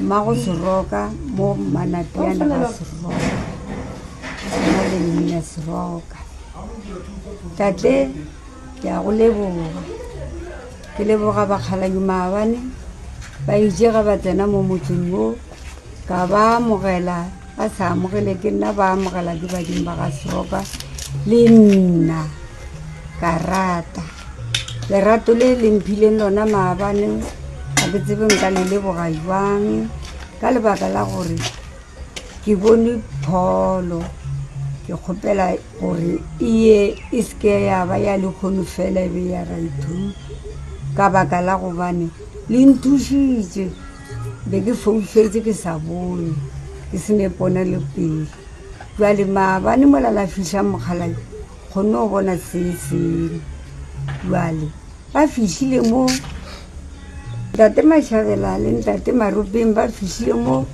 Mmago Seroka mo Manateana ga Seroka na le Mmina Seroka. Tate ke a go leboga. Ke leboga bakgaladi maabane ba itše ga ba tsena mo motseng wo ka ba amogela ba sa amogele ke nna ba amogela ke badimo ba ga seroka le nna ka rata lerato le le mphileng lona maabane ga ke tsebe nka le leboga jwang ka lebaka la gore ke bone pholo ke kgopela gore e ye e seke ya ba ya lekgono fela e be ya raithu ka baka la gobane le nthušitše Be ke foufetše ke sa bone, ke se ne ponelopeele. Bjale maabane mola la fihla mokgalabje, kgonne go bona se sengwe. Bjale ba fihlile mo, Ntate Mashabela le Ntate Maropeng ba fihlile mo,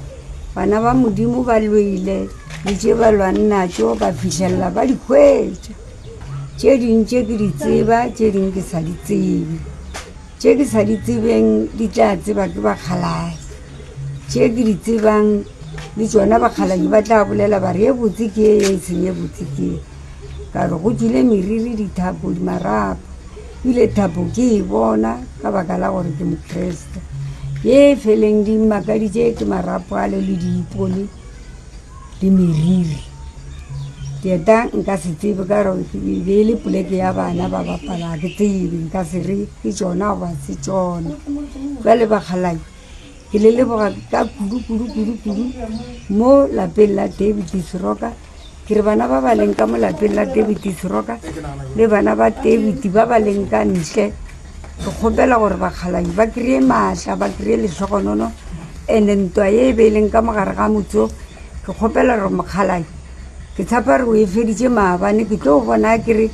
bana ba Modimo ba lwele le tše ba lwang natšo, ka fihlelela ba di hwetša. Tše ding tše ke di tseba, tše ding ke sa di tsebe. Tše ke sa di tsebeng di tla tseba ke bakgaladi, tše ke di tsebang le tšona bakgaladi ba tla bolela ba re ye botse ke ye ye e seng ye botse ke ye. Ka re go tswile meriri, dithapo, dimarapo, bile thapo ke e bona ka baka la gore ke Mokreste. Ye feleng di mmakaditše ke marapo ale le diipone. le meriri. Keta nka se tsebe ka gore e be e le poleke ya bana ba bapala, ga ke tsebe. Nka se re ke tšona goba ga se tšona. Jwale bakgalabje, ke le leboga ka kudu kudu kudu kudu mo lapeng la David Seroka. Ke re bana ba ba leng ka mo lapeng la David Seroka le bana ba David ba ba leng ka ntle, Ke kgopela gore bakgalanyi ba kry-e maatla, ba kry-e lehlogonono and-e ntwa ye e be e leng ka mogare ga motso. Ke kgopela gore mokgalanyi, ke tshapa re o e feditše maabane, ke tlo bona a kere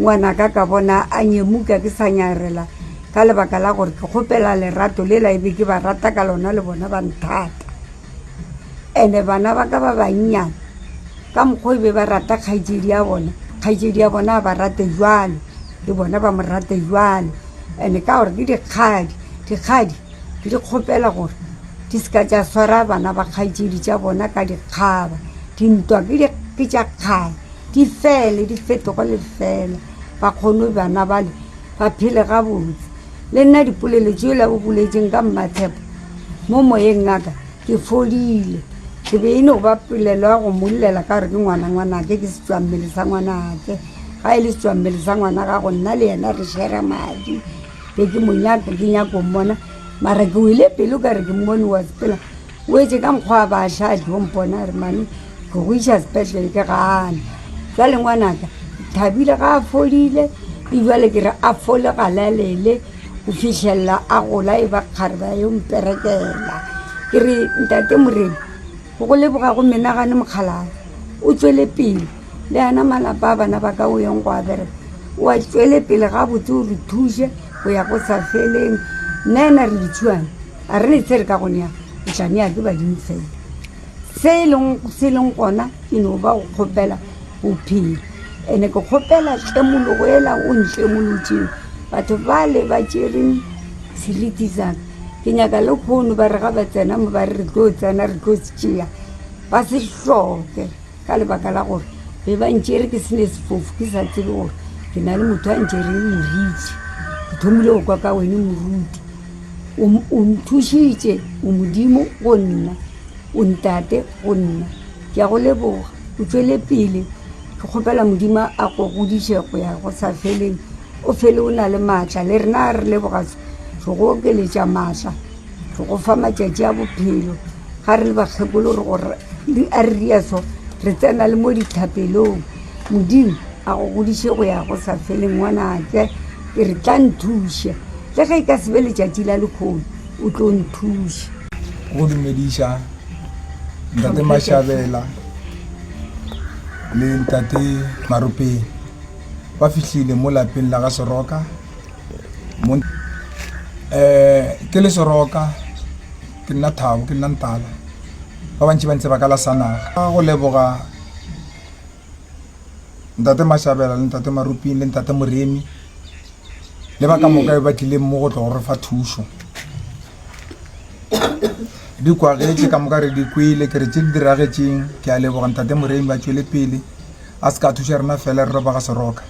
ngwanaka ka bona a nyemuka ke sa nyarela ka lebaka la gore ke kgopela lerato lela e be ke ba rata ka lona le bona ba nthata. And bana ba ka ba bannyane ka mokgwa o be ba rata kgaetšedi ya bona, kgaetšedi ya bona a ba rate jwalo, le bona ba mo rate jwalo. And ka gore ke dikgadi, dikgadi ke di kgopela gore di seka tša swara bana ba kgaetšedi tša bona ka dikgaba. Dintwa ke tša kgale, di fele, di fetoge le fela. Ba kgone bana bale ba phele gabotse. Le nna dipolelo tšeo la bo boletšeng ka mmatshepo, mo moyeng ngaka ke fodile. Ke be e no ba polelo ya go mmollela ka gore ke ngwana ngwanake, ke setšwammele sa ngwanake. Ga e le setšwammele sa ngwana gago, nna le yena re share-ra madi. Be ke mo nyaka, ke nyako mmona mara ke wele pelo ka re ke mmone wa sepela. O etše ka nkgwa ba ša diompona a re, Mami, ke go iša sepetlele ke gane. Jwale ngwanaka, Thabile ga a folile, e jwale ke re a fole galalele go fihlelela a gola e ba kgare ba yo mperekela. Ke re, Ntate Morena, go go leboga go menagane mokgalala, o tšwele pele le ana malapa a bana ba ka o yeng go a bereka, o a tšwele pele gabotse o re thuše go ya go sa feleng. Nna ena re ditšhuana. A re ne tse re ka go nea, o tla nea ke badimo fela. Se e leng, se e leng gona ke no ba go kgopela bophelo. Ene ke kgopela tšemologo ela o ntšemolotšego, batho bale ba tšereng seriti saka. Ke nyaka le kgono ba re ga ba tsena mo ba re re tlo tsena re tlo se tšea, ba se hloke. Ka lebaka la gore be ba ntšere ke se ne sefofu ke sa tsebe gore ke na le motho a ntšere moritši ke thomile go kwa ka wene moruti o nthušitše o modimo go nna o ntate go nna ke ya go leboga o tšwele pele ke kgopela modimo a go godiše go ya go sa feleng o fele o na le maatla le rena re leboga se go okeletša maatla Re go fa matšatši a bophelo ga re le bakgekolo re go re a re riaso re tsena le mo dithapelong Modimo a go godiše go ya go sa feleng ngwanake ke re tla nthuše le ge e ka sebe letšatši la lekgolo o tlo nthuše go dumediša ntate Mashabela le ntate Maropeng ba fihlile mo lapeng la ga Soroka. um ke le seroka ke nna thabo ke nna ntala ba bantši ba ntse ba ka lasanaga ka go leboga ntate mashabela le ntate maruping le ntate moremi le ba ka moka ba tlileng mo go tlo go re fa thušo di kwagetse ka moka re di kwele ke re tse di diragetseng ke a leboga ntate moremi ba tšwele pele a se ka thuša rena fela re roba ga seroka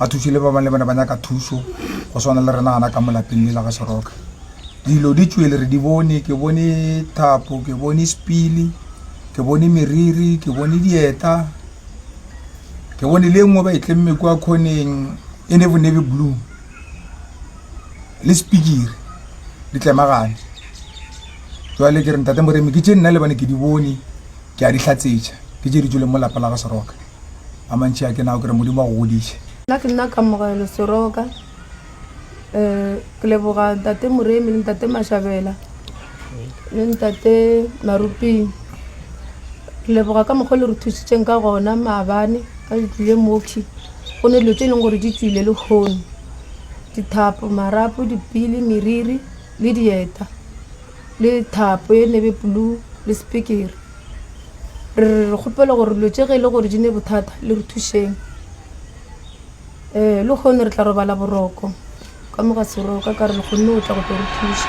a thuswe le ba bangwe le bone ba nyaka thuso go swana le rena gana ka molapeng le la ga seroka dilo di tswele re di bone ke bone thapo ke bone spele ke bone meriri ke bone dieta ke bone le nngwe ba e tlemme kwa khoneng e ne bo nebe blue le spikiri di tlemagane jwale ke re ntate moremi ke tše nna le bane ke di bone ke a di tlatsetša ke tše di tswele mo lapa la ga seroka a mantši a ke nao ke re modimo a go godiše Nna ke nna Kamogelo Seroka. Eh, ke leboga ntate Moremi le ntate Mashabela le ntate Maruping. Ke leboga ka mokgwa o le re thusitseng ka gona maabane ka le tlile moki. Go ne dilo tse e leng gore di tswile le kgono. Dithapo, marapo, dipili, meriri le dieta. le thapo ye nebe blue le sepikere re re re kgopela gore dilo tše ge e le gore di ne bothata le re thušeng um le kgone re tla robala boroko ka mo ga seroka ka re le kgonne go tla go tlo re thuša